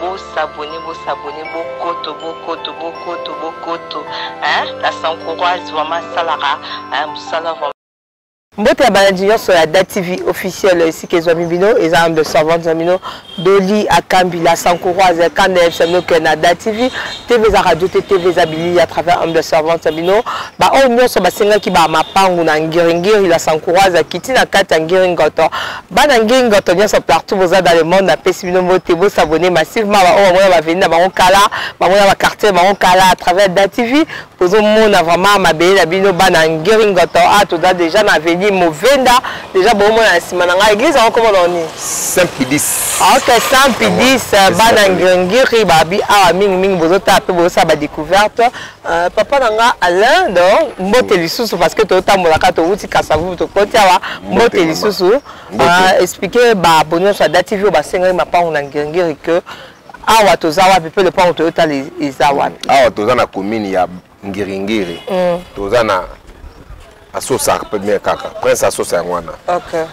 Bo s'abonner, bo s'abonner, bokoto, bokoto, bokoto, bokoto. Hein? La Sankuroise vraiment asalaka hein, musala vraiment. mbote ya balandi nyonso ya da tv officiel esika ezwami bino eza ambe servante na bino doli akambi la sankuroise ya kanda yebisa bino ke na da tv tv eza radio te tv eza bilili à travers ambe servante na bino baoyo nyonso basengaki bamapangu na ngiringiri la sankuroise akiti na kati ya ngiringoto bana ngenga to nyonso partout boza dans le monde napesi bino mbote bosabone massivement baoyo bango na baveni na bango kala bango na baquartier bango kala à travers da tv bozomona vraiment mabele na bino bana ngeringoto a ah, toza déjà na aveni movenda déjà boomona na nsima na ngai église yango komona oni saint pidis ah, ok saint pidis bana ngengiri babi awa ah, mingimingi bozotala mpe bozosala badecouverte Euh, papa na nga alain do mbote mm. lisusu parce que totambolaka towuti kasavu tokoti awa mbote lisusu euh, explike baabo nyonso ya dati vio basengaki mapango na ngirngiri que awa toza wapi mpe lopango toyotala e-, eza wapi awa toza na commune ya ngiringiri mm. toza na asosa premier kaka prince asosa yango wana okay.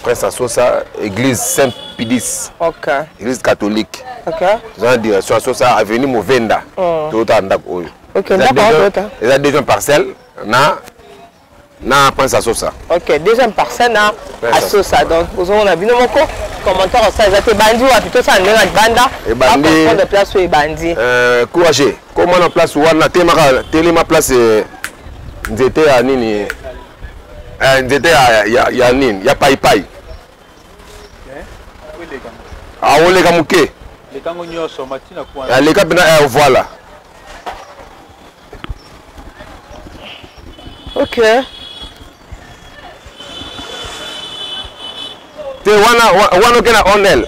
prince asosa église saint pidis okay. église catholique okay. toza na direction asosa avenue movenda mm. toyotaka ndako oyo okay, eza deuxième parcelle na na prince asosa ok deuxième parcelle na asosa donc ozomona bino moko commentaire osala eza te ebandi wapi tosala ndenge na libanda ebandi place oyo ebandi euh, courage koma na place wana telemaka telema place eh, nzete ya nini eh, nzete ya, ya, ya nini ya paipai aoleka moke lekango nyonso matina kwana aleka mpena eh, eh, voilà ok te wana wana okena onel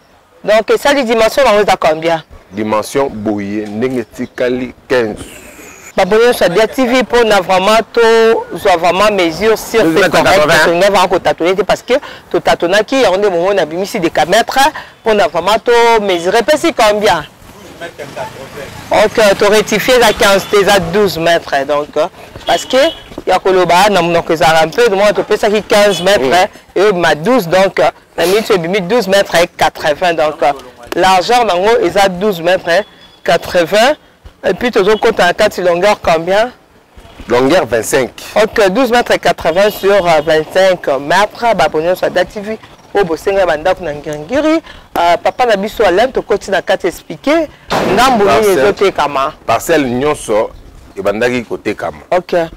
donc esali dimension nango eza combien dimension boye ndenge etikali 15 baboni nyonso ya dia tv mpona vraiment tozwa vraiment mesure sur va kotatone te parce que totatonaki yango nde bomoi na bimisi decametre mpona vraiment tomesure epesi combien ok torectifie eza 15 te eza 12 mètre donc parce que ya koloba na monoko ezalaka mpe domona topesaki 15 mètre eyobima 12 donc na mitu ebimi 12 mètre 80 donc euh, largeur nango eza 12 mètre 80 et puis tozokota na kati longueur combien longueur 25 ok 12 mètre 80 sur 25 euh, mètre bapo nyonso ya dativi oyo bosenga ya bandako na ngirngiri euh, papa na biso alain tokoti na kati explike ndambo nini ezotekama parcelle nyonso ebandaki kotekama ok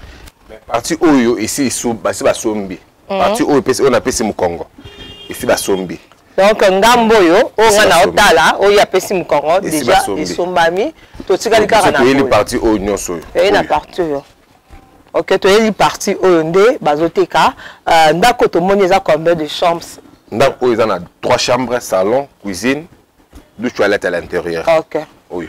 parti oyo esi basi basombi Mhm. parti oyo epesi oyo napesi mokongo esi basombi donc ngambo oyo oyo ngai naotala oyo apesi mokongo deja esombami totikali kaka toyeli parti oyo nyonso oyo toyei na parti oyo ok toyeli parti oyo nde bazoteka euh, ndako tomoni eza combien de chambres ndako oyo eza na trois chambres salon cuisine du toilette à l'intérieur ok oyo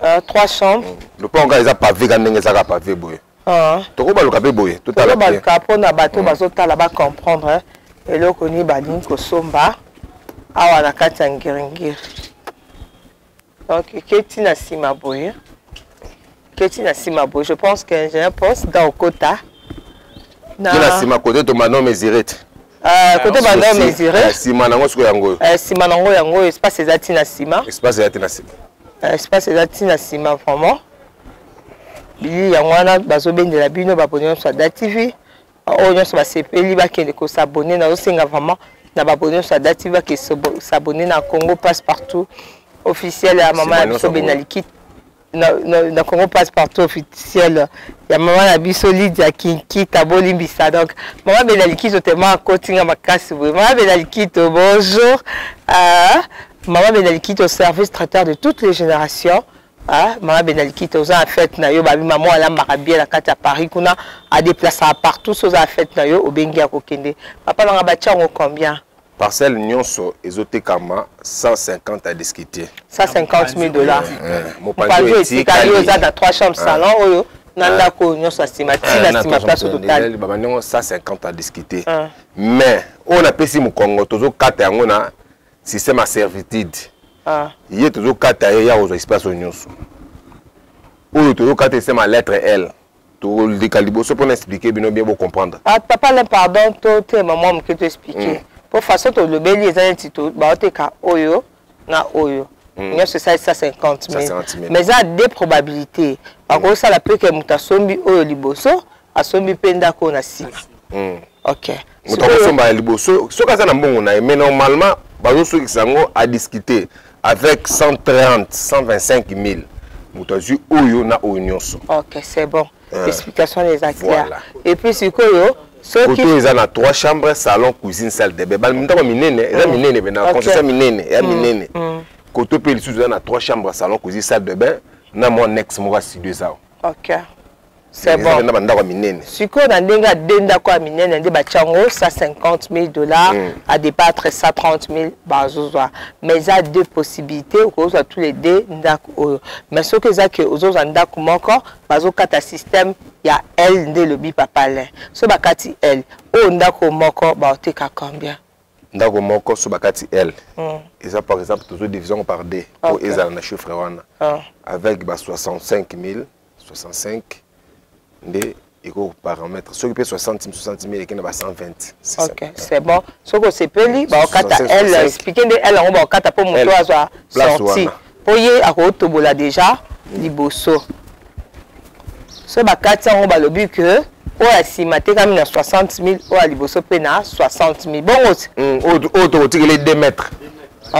Ah, trois chambres. Mm. Lopango kaka eza pavé ka ndenge ezaka pavé boye. Ah. Tokobaluka mpe boye totala tokobaluka mpo na bato mm. bazotala bacomprendre eh. eloko nini balingi kosomba awa na kati ya ngiringiri donc eketi na nsima boye eketi na nsima boye je pense que ingénieur pense da okota na nsima kote tomano mesirete Ah, côté ah, banda mesuré. Eh, sima nango siko yango oyo. Eh, sima nango yango oyo espace eza ti na sima. Espace eza ti na sima. Eh, espace eza ti na sima vraiment. Biyi yango wana bazo bendela bino ba bonne sur Da TV. Oyo nyonso basepeli bakende ko s'abonner na osenga vraiment na ba bonne sur Da TV ke s'abonner na Congo passe partout officiel ya maman ya biso Benalikit. na, na, na congo passe partout officiel ya mama na biso lidia kinkita bolimbisa donc mama bela likito tema akotinga makasi boye mama bela likito bonjour uh, mama bela likito service traiteur de toutes les générations Ah, mama bena likita oza na fete na yo babi mama alambaka bie na kati ya paris kuna adeplasaka partout so oza na fete na yo obengi ya kokende papa nanga batya yango combien Parcelle nionso ezotekama 150 à discuter. 150 000 dollars. Mopanzi etikali oza na 3 chambres salon oyo na ndako nionso asima tina sima place totali. Baba ndongo 150 à discuter. Mais oyo napesi mokongo tozokata yango na système à servitude. Ah. Ye tozokata ye ya kozwa espace oyo nyonso. Oyo tozokata esema lettre L. toleka liboso mpo na explike bino bien bocomprendre ah, papa le pardon totema mwa moke toexplike mm. mpo façon tolobeli eza neti baoteka oyo na oyo mm. nyonso esali 150 mille mais eza de probabilité mm. bakosala mpe ke moto asombi oyo liboso asombi mpe ndako oyo na nsima okay. moto akosomba ya liboso soki aza na mbongo na ye mais normalement bazosukisa yango à discuter avec 130 125 000 moto azwi oyo na oyo nyonso ok c'est bon euh, explication eza claire voilà. et puis sikoyo soki koto eza na trois chambres salon cuisine salle de bain bandako minene eza mm. minene mpe na concession minene ya mm. minene mm. koto mpe lisusu eza na trois chambres salon cuisine salle de bain na mwa nex moko ya studio eza ok ezali na bandako ya minene sikoyo na ndenge ya de ndako ya minene nde batya yango 150 000 dollars mm. à départ 130 000 bazozwa mais eza deux possibilités okozwa tous les deux ndako oyo mais soki eza ke ozozwa ndako moko bazokata système ya l nde elobi papa lin so bakati l oyo ndako moko baoteka combien ndako moko so bakati l mm. eza par exemple tozo division par d mpo okay. ezala na chiffre wana ah. avec ba 65 000 65 nde eko parametre soki mpe 60 60 mille ekenda ba 120 ok c'est bon soki osepeli baokata elle explike nde elle yango baokata mpo moto azwa sorti mpo ye akotobola déjà liboso so bakati yango balobi ke oyo ya nsima atekami na 60 mille oyo ya liboso mpe na 60 mille bongo mm, oyo tokotikeli 2 mètre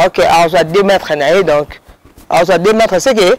ok azwa 2 mètre na ye donc azwa 2 mètre seke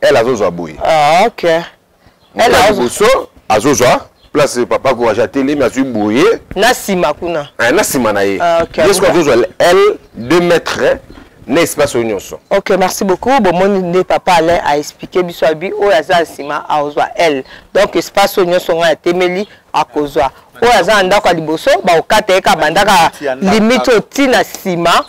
elle azozwa boye ah, ok liboso azozwa place papa courage atelemi azwi boye na nsima kuna eh, na nsima na ye ah, ye soki azozwa elle deux mètres na espace oyo nyonso ok merci beaucoup bomoni nde papa alain aexplike biso abi oyo aza na nsima akozwa elle donc espace oyo nyonso ngai atemeli akozwa oyo aza na ndako ya liboso bakokata ye kabandaka limite oyo ntina nsima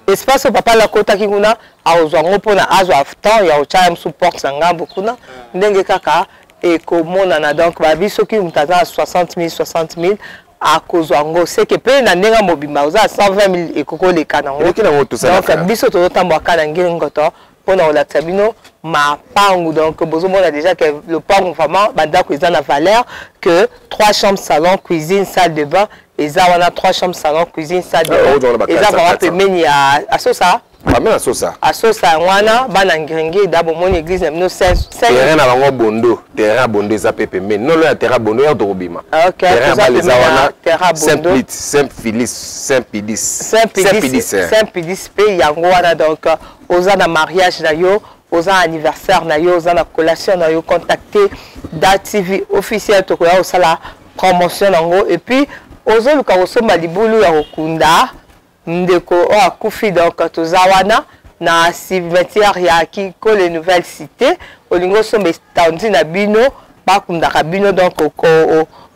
espace oyo papa alakotaki kuna akozwa yango mpona azwa temps ya kotya mosusu porte na ngambo kuna ndenge kaka ekomonana donc babi soki moto aza na 60 000 60 000 akozwa yango seke mpe na ndenge mobimba oza na 120 000 ekoki koleka nangodonk biso tozotambwa kaka na ngeli ngoto mpona kolakisa bino mapangu donc bozomona déjà que lopangu vraiment bandako eza na valeur que trois chambres salon cuisine salle de bain eza wana trois chambres salon cuisine salle de ah, bain eza vraiment pembeni ya asosa Pamela Sosa. Asosa yango wana bana ngringida bomoni église na bino terrain na bango bondo terrain bondo eza mpe pembeni nolo ya terrain bondo yaka tokobima terrain ya bale eza wana saint plit saint philis saint pidis saint pidis eh. pidis mpe yango wana donc euh, oza na mariage na yo oza anniversaire na yo oza na collation na yo contacte da tv officiel tokoya kosala promotion na yango epuis ozoluka kosomba libulu ya kokunda Ndeko oyo akufi donc toza wana na cimetière ya Kinkole Nouvelle Cité olingi osomba etandi na bino bakundaka bino donc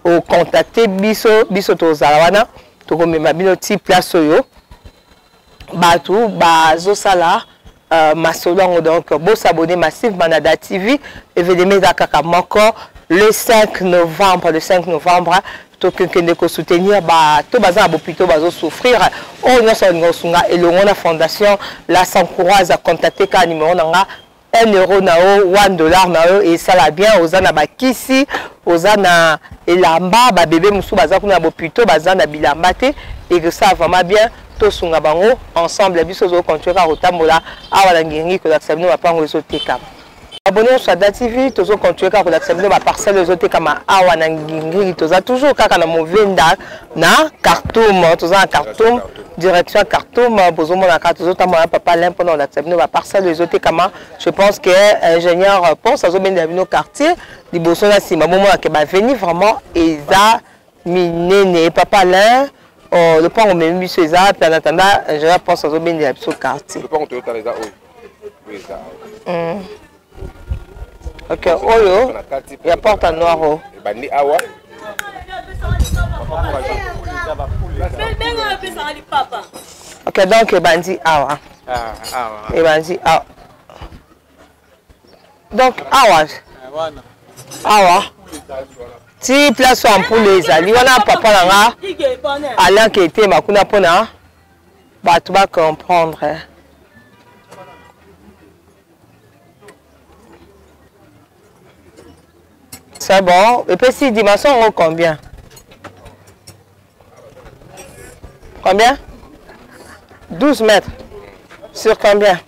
ocontacte biso biso tozala wana tokomema bino ti place oyo bato bazosala Uh, masolo yango donc bo s'abonner massivement na da tv evenema eza kaka moko le 5 novembre le 5 novembre tokende kosoutenir bato baza na bopito bazosouffrir oyo oh, nyonso alinga kosunga elongo na fondation la sancourage acontakte kaka numero na nga 1 euro na yo 1 dollar na yo esala bien oza na bakisi oza na elamba babebe mosusu baza kuna na bopito baza na bilamba te ekosala vraiment bien tosunga bango ensemble biso ozo continuer kaka kotambola awa na ngiringi kolakisa bino mapango ezotekama abonne ya sada tv tozo continuer kaka kolakisa bino baparcelle ezotekama awa na ngiringi toza toujours kaka na movenda na cartoum toza na cartoum direction cartoum bozomona kaka tozotambola na papa lin mpona kolakisa bino baparcelle ezotekama je pense que euh, ingénieur euh, ponce azobendela bino quartier liboso na nsima bomonake baveni vraiment eza minene papa Alain oh, lopango memi biso eza wapi en attendant ingénieur euh, pense azobendela biso quartier lopango toyotala eza oyo oyo eza hmm. ok oyo ya porte en noir o ebandi awa ok donc ebandi awa ah, ebandi awa donc awa awa ti place oyo ampule ezali wana papa na nga alianka etema kuna mpona bato bacomprendre c'est bon epesi dimension yango combien combien 12 mètres sur combien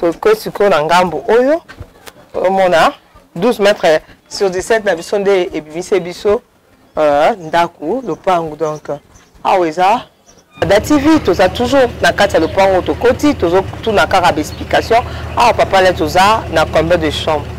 toke sikoyo na ngambo oyo omona 12 mètre sur 17 na biso nde ebimisi biso euh, ndako lopango donc awa eza da tv toza toujours na kati ya lopango tokoti tozotuna kaka baexplication awa papa le toza na combien de chambre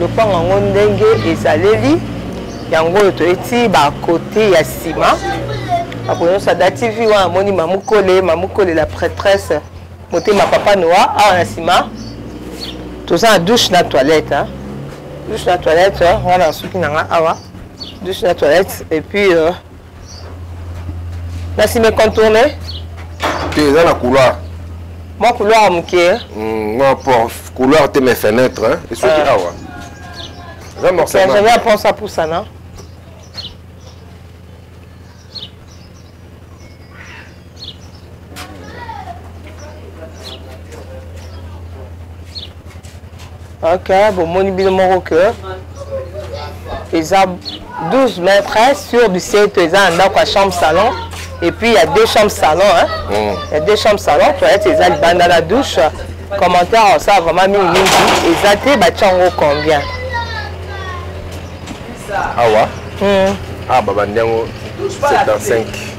lopango yango ndenge ezaleli yango oyo toyeti bakote ya nsima akoyosa da tv wana amoni mamukole mamukole la prêtresse motema papa noa awa na nsima toza na douche na toilette hein? douche na toilette wana nasuki na nga awa douche na toilette et puis euh, na sima econtourne te eza na couloir mwa couloir ya moke mwa hmm, port couloir te mais fenêtre esoki ah. awa eza morceaujavi apense apusana ok bomoni bino moko ke eza 12 mètres sur 17 eza na ndako ya chambre salon et puis il y a deux chambres salon hein? mm. il y a deux chambres salon toilette eza libanda na douche commentaire osala vraiment mingi mingi eza te batya yango combien awa ah, hmm. ah babandi yango 75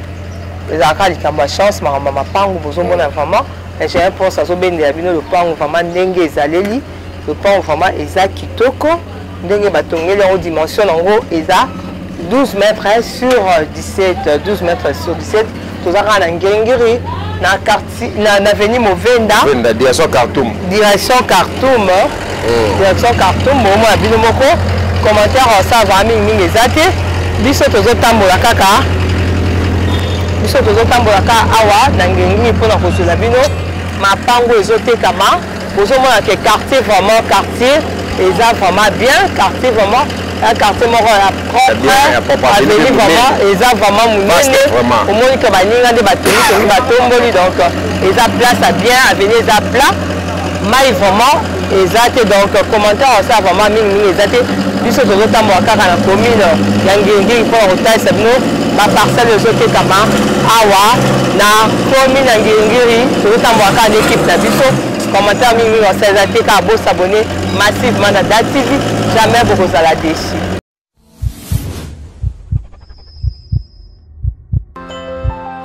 ezalaka likambo ya chance makambo ya mapangu bozomona mm. vraiment j'ai un pense azobendela bino lopango vraiment ndenge ezaleli lopango vraiment eza kitoko ndenge batongeli yango dimension yango eza 12 mètres sur 17 12 mètres sur 17 toza kaka na ngengiri na quartier na, na veni movenda venda direction cartoum direction cartoum mm. direction cartoum bomona bino moko commentaire osalaka mingi mingi eza te biso tozotambola kaka biso tozotambola kaka awa na ngengi mpo na kozwela bino mapango ezotekama bozomona ke quartier vraiment quartier eza vraiment bien quartier vraiment un quartier moko ya propre aveni vraiment eza vraiment monene omoni ke baninga nde bateli tongi batomboli donc eza place ya bien aveni eza plat mai vraiment eza te donc commentaire osala vraiment mingimingi eza te biso tozotambola kaka na commune ya ngingii mpo na kotalisa bino baparcelle ezotekama awa na Somi na Ngengiri, tozotambola kaka na ekipe na biso. Commentaire mingi mingi osala eza te kaka bosabone massivement na Da TV, jamais bokozala deçu.